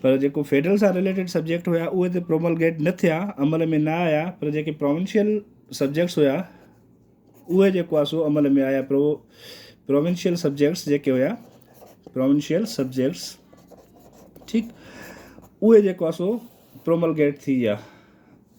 پر جيڪو فيڊرل سان related subject هيا اهي ته پروملگيٽ نه ٿيا عمل ۾ نه آيا پر جيڪي پراونشل سبجيڪٽس هيا اهي جيڪو آهي سو عمل ۾ آيا پرو پراونشل سبجيڪٽس جيڪي هيا پراونشل سبجيڪٽس ٺيڪ اهي جيڪو آهي سو پروملگيٽ ٿي ويا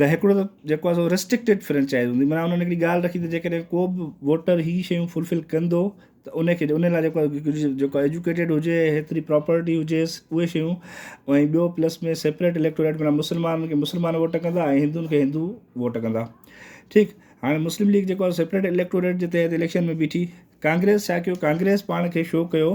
ته هڪڙو ته جيڪو آهي سو ريسٽرڪٽيڊ فرنچائز هوندي معنيٰ انهن هڪڙي ڳالهه رکي ته جيڪڏهن ڪو به ووٽر هي شيون فلفل ڪندو ته ان کي ان لاء جيڪو آهي جيڪو آهي ايجوڪيٽيڊ هجي هيتري پراپرٽي هجيس اهي شيون ۽ ٻيو پلس ۾ سيپريٽ اليڪٽوريٽ معنيٰ مسلمان کي مسلمان ووٽ ڪندا ۽ هندوئن کي هندو ووٽ ڪندا ٺيڪ هاڻي مسلم ليگ جيڪو آهي سيپريٽ اليڪٽوريٽ جي تحت اليڪشن ۾ بيٺي ڪانگريس ڇا ڪيو ڪانگريس پاڻ کي شو ڪيو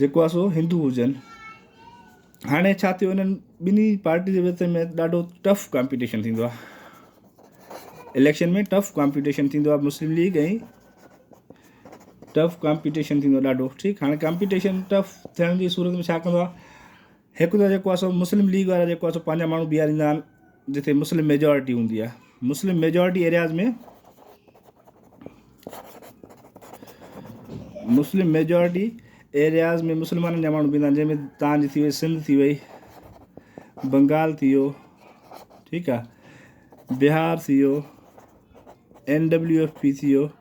جيڪو آ سو هندو هجن هاڻي ڇا ٿيو انهن ٻنهي پارٽي جي وچ ۾ ڏاڍو ٽف ڪامپيٽيشن ٿيندو آ اليڪشن ۾ ٽف ڪامپيٽيشن ٿيندو آ مسلم ليگ ۽ ٽف ڪامپيٽيشن ٿيندو آ ڏاڍو ٺيڪ هاڻي ڪامپيٽيشن ٽف ٿيڻ جي صورت ۾ ڇا ڪندو آ هڪ ته جيڪو آسو مسلم ليگ وارا جيڪو آسو پنهنجا ماڻهو بيهاريندا آهن جتي مسلم ميجارٽي هوندي آهي Muslim majority areas ۾ Muslim majority areas ۾ مسلمانن جا ماڻهو بيهندا آهن جنهن ۾ تان جي ٿي وئي سنڌ ٿي وئي بنگال ٿي ويو ٺيڪ آهي بهار ٿي ويو اين ڊبليو ايف پي ٿي ويو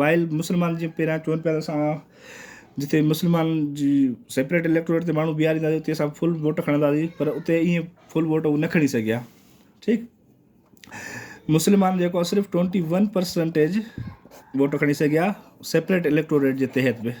وائل مسلمانن جي پهريان چون پيا ته اسان جتي مسلمان جي سيپريٽ اليڪٽوريٽ تي ماڻهو بيهارينداسين اتي اسان فل ووٽ کڻنداسين پر اتي ائين فل ووٽ هو نه کڻي سگهيا ٺيڪ مسلمان جيڪو صرف ٽوئنٽي ون پرسنٽيج ووٽ کڻي سگهيا سيپريٽ اليڪٽوريٽ جي تحت به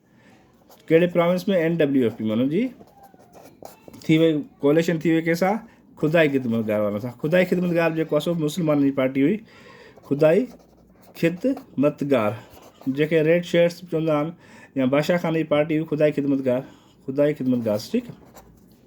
ڪهڙي province ۾ N W F P مانو جي ٿي وئي ڪوليشن ٿي وئي ڪيسا خدائي خدمتگار وارن سان خدائي خدمتگار جيڪو اصل مسلمانن جي پارٽي هئي خدائي خدمتگار جيڪي ريڊ شيئرس چوندا آهن يا بادشاهخاني جي پارٽي هئي خدائي خدمتگار خدائي خدمتگار ٺيڪ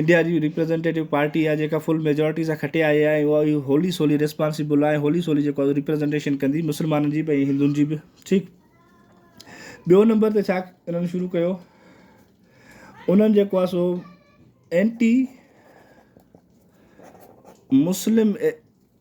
انڊيا جي ريپريزنٽيٽو پارٽي آهي جيڪا فل ميجارٽي سان کٽي آئي آهي ۽ اها هولي سولي ريسپانسيبل آهي هولي سولي جيڪو آهي ريپريزنٽيشن ڪندي مسلمانن جي به ۽ هندن جي به ٺيڪ ٻيو نمبر تي ڇا انهن شروع ڪيو انهن جيڪو آهي سو anti Muslim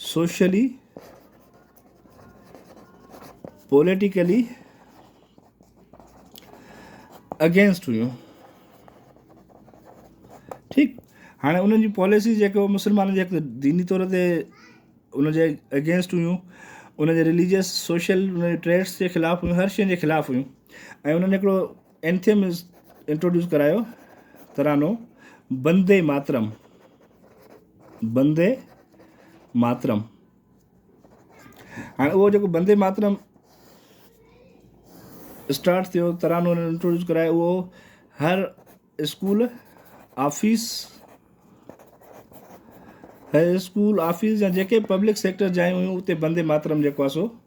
socially, politically against هيون ٺيڪ هاڻي انهن جون پاليسيز جيڪو مسلمانن جي ديني طور تي ان جي اگينسٽ هيون ان جي رليجس سوشل ان جي ٽريڊس جي خلاف هيون هر شين جي خلاف هيون ۽ انهن هڪڙو انٿيم انٽروڊيوس ڪرايو ترانو بندي ماترم بندي ماترم هاڻي اهو جيڪو بندي ماترم اسٽارٽ ٿيو ترانو هنن انٽروڊيوس ڪرائي اهو هر اسڪول آفيس هر اسڪول آفيس جا جيڪي پبلڪ سيڪٽر جايون هيون اتي بندي ماترم جيڪو آهي سو